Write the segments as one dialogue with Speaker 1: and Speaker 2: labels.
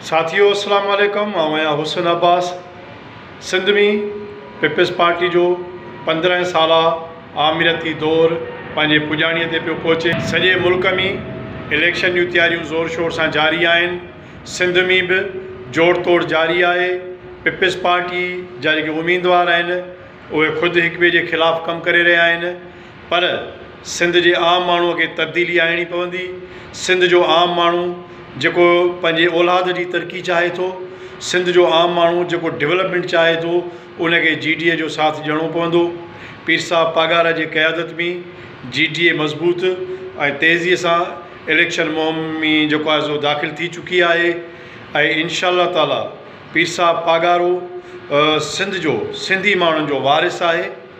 Speaker 1: ساٿيو السلام عليڪم آئون آهيان حسن عباس سنڌ ۾ پيپلز پارٽي جو پندرهن سالا آمريتي دور پنهنجي پڄاڻي تي پيو پهچي سڄي ملڪ ۾ اليڪشن جون تياريون زور شور سان جاري آهن سنڌ ۾ به جوڙ توڙ جاري آهي پيپلز پارٽي جا جيڪي اميدوار آهن اهي خود هڪ ٻئي جي خلاف ڪم ڪري رهيا آهن پر سنڌ جي عام ماڻهوء کي تبديلي آڻڻي پوندي. سنڌ جو عام ماڻهو جيڪو پنهنجي اولاد جي ترقي چاهي ٿو، سنڌ جو عام ماڻهو جيڪو ڊولپمينٽ چاهي ٿو، ان کي جي ڊي اي جو ساٿ ڏيڻو پوندو. پير صاحب پاڳارا جي قيادت ۾ جي ڊي اي مضبوط ۽ تيزيء سان اليڪشن مهم ۾ جيڪو آهي سو داخل ٿي چڪي آهي ۽ انشاء الله تعاليٰ پير صاحب پاڳارو سنڌ جو سنڌي ماڻهن جو وارث آهي.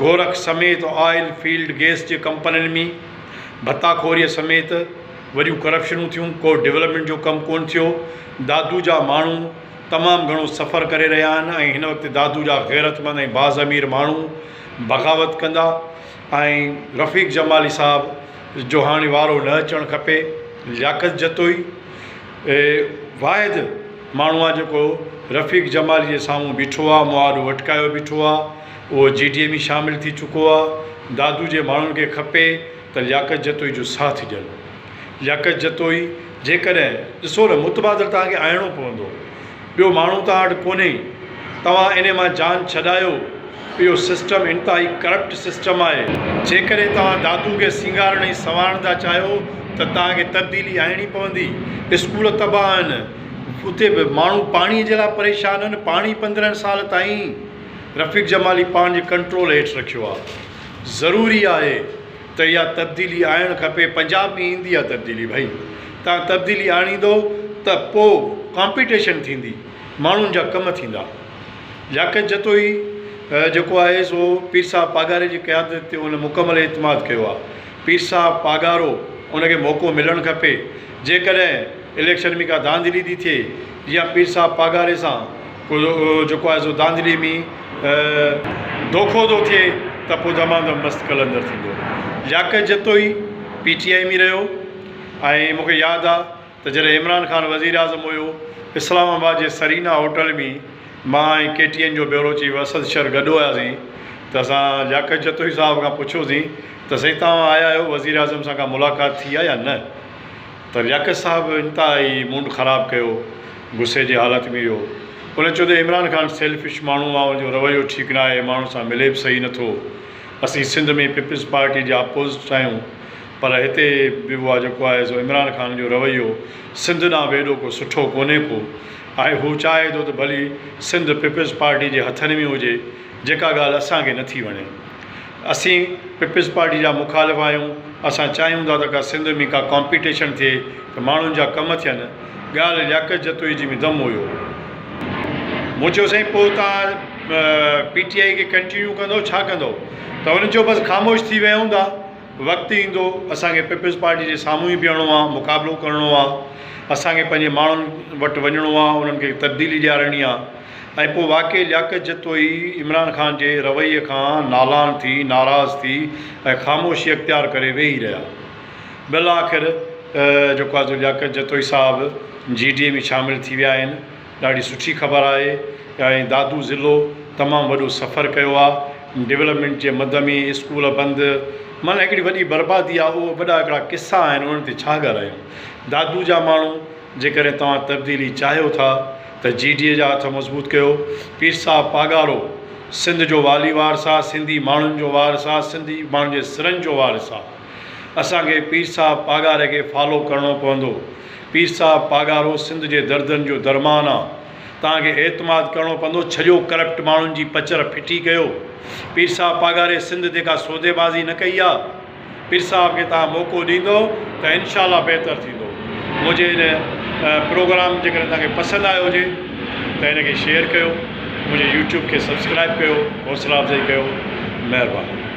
Speaker 1: گورک سميت آئل، فيلڊ گيس جي ڪمپنين ۾ ڀتا خوريء سميت وڏيون ڪرپشنون ٿيون، ڪو ڊولپمينٽ جو ڪم ڪونه ٿيو، دادو جا ماڻهو تمام گهڻو سفر ڪري رهيا آهن ۽ هن وقت دادو جا غيرتمند ۽ باضمير ماڻهو بغاوت ڪندا ۽ رفيق جمالي صاحب جو هاڻي وارو نه اچڻ کپي، لياقت جتوئي. واحد ماڻهو آ جيڪو رفيق جمالي جي سامهون بيٺو آ مواڊو اٽڪايو بيٺو آ اهو جي ڊي اي ۾ شامل ٿي چڪو آ دادو جي ماڻهن کي کپي ته لياقت جتوئي جو ساٿ ڏين لياقت جتوئي جيڪڏهن ڏسو نه متبادل توهان کي آڻڻو پوندو. ٻيو ماڻهو توهان وٽ ڪونهي، توهان انهي مان جان ڇڏايو، اهو سسٽم انتهائي ڪرپٽ سسٽم آهي، جيڪڏهن توهان دادو کي سينگارڻ ۽ سنوارڻ ٿا چاهيو ته توهان کي تبديلي آڻڻي پوندي، اسڪول تباهه آهن، اتي ماڻهو پاڻي جي لاء پريشان آهن، پاڻي پندرهن سال تائين رفيق جمالي پاڻ جي ڪنٽرول هيٺ رکيو آهي، ضروري آهي. ته اها تبديلي آڻڻ کپي پنجاب ۾ ايندي آ تبديلي ڀائي تان تبديلي آڻيندو ته پو ڪامپيٽيشن ٿيندي ماڻهن جا ڪم ٿيندا لياقت جتوئي جيڪو آهي سو پير صاحب پاڳاري جي قيادت تي ان مڪمل اعتماد ڪيو آ پير صاحب پاڳارو ان کي موقعو ملڻ کپي جيڪڏهن اليڪشن ۾ ڪا ڌانڌلي ٿي ٿئي جيئن پير صاحب پاڳاري سان ڪو جيڪو آهي سو ڌانڌلي مي دوکو ٿو ٿئي ته پوء دمادم مست قلندر ٿيندو. لياقت جتوئي پي ٽي آء مي رهيو ۽ مون کي ياد آ ته جڏهن عمران خان وزير اعظم هيو اسلام آباد جي سرينا هوٽل مي مان ۽ ڪي ٽي اين جو بيورو چيف اسد شر گڏ هيا سين ته اسان لياقت جتوئي صاحب کان پڇيو سين ته سائين توهان آيا آهيو وزير اعظم سان ڪا ملاقات ٿي آ يا نه؟ پر لياقت صاحب انتهائي موڊ خراب ڪيو غصي جي حالت ۾ هيو ان چيو ته عمران خان سيلفش ماڻهو آ ان جو رويو ٺيڪ ناهي ماڻهن سان ملي به صحيح نه ٿو اسين سنڌ ۾ پيپلز پارٽي جا اپوزٽ آهيون پر هتي به اها جيڪو آهي سو عمران خان جو رويو سنڌ ڏانهن به ايڏو ڪو سٺو ڪونهي ڪو آهي هو چاهي ٿو ته ڀلي سنڌ پيپلز پارٽي جي هٿن ۾ هجي جيڪا ڳالهه اسان کي نٿي وڻي. اسين پيپلز پارٽي جا مخالف آهيون، اسان چاهيون ٿا ته ڪا سنڌ ۾ ڪا ڪامپيٽيشن ٿئي ته ماڻهن جا ڪم ٿين، ڳالهه لياقت جتوئي جي ۾ دم هيو. مون چيو سائين پوء توهان پي ٽي آء کي ڪنٽينيو ڪندو ڇا ڪندو ته هن چيو بس خاموش ٿي ويهون ٿا وقت ايندو اسان کي پيپلز پارٽي جي سامهون ئي بيهڻو آهي مقابلو ڪرڻو آهي اسان کي پنهنجي ماڻهن وٽ وڃڻو آهي انهن کي تبديلي ڏيارڻي آهي. ۽ پوء واقعي لياقت جتوئي عمران خان جي رويي کان نالان ٿي، ناراض ٿي ۽ خاموشي اختيار ڪري ويهي رهيا. بالآخر جيڪو آهي سو لياقت جتوئي صاحب جي ڊي اي ۾ شامل ٿي ويا آهن. ڏاڍي سٺي خبر آهي ۽ دادو ضلعو تمام وڏو سفر ڪيو آهي. ڊولپمينٽ جي مد ۾ اسڪول بند معنيٰ هڪڙي وڏي بربادي آهي اهو وڏا هڪڙا قصا آهن انهن تي ڇا ڳالهايون. دادو جا ماڻهو. جيڪڏهن توهان تبديلي چاهيو ٿا ته جي ڊي اي جا هٿ مضبوط ڪيو. پير صاحب پاڳارو سنڌ جو والي وارث آ، سنڌي ماڻهن جو وارث آ، سنڌي ماڻهن جي سرن جو وارث آ. اسان کي پير صاحب پاڳاري کي فالو ڪرڻو پوندو. پير صاحب پاڳارو سنڌ جي دردن جو درمان آ. توهان کي اعتماد ڪرڻو پوندو. ڇڏيو ڪرپٽ ماڻهن جي پچر ڦٽي ڪيو. پير صاحب پاڳاري سنڌ تي ڪا سودي بازي نه ڪئي آ. پير صاحب کي توهان موقعو ڏيندو ته انشاء الله بهتر ٿيندو. منهنجي هن پروگرام جيڪڏهن توهان کي پسند آيو هجي ته هن کي شيئر ڪيو. منهنجي يوٽيوب کي سبسڪرائيب ڪيو. حوصلا افزائي ڪيو. مهرباني.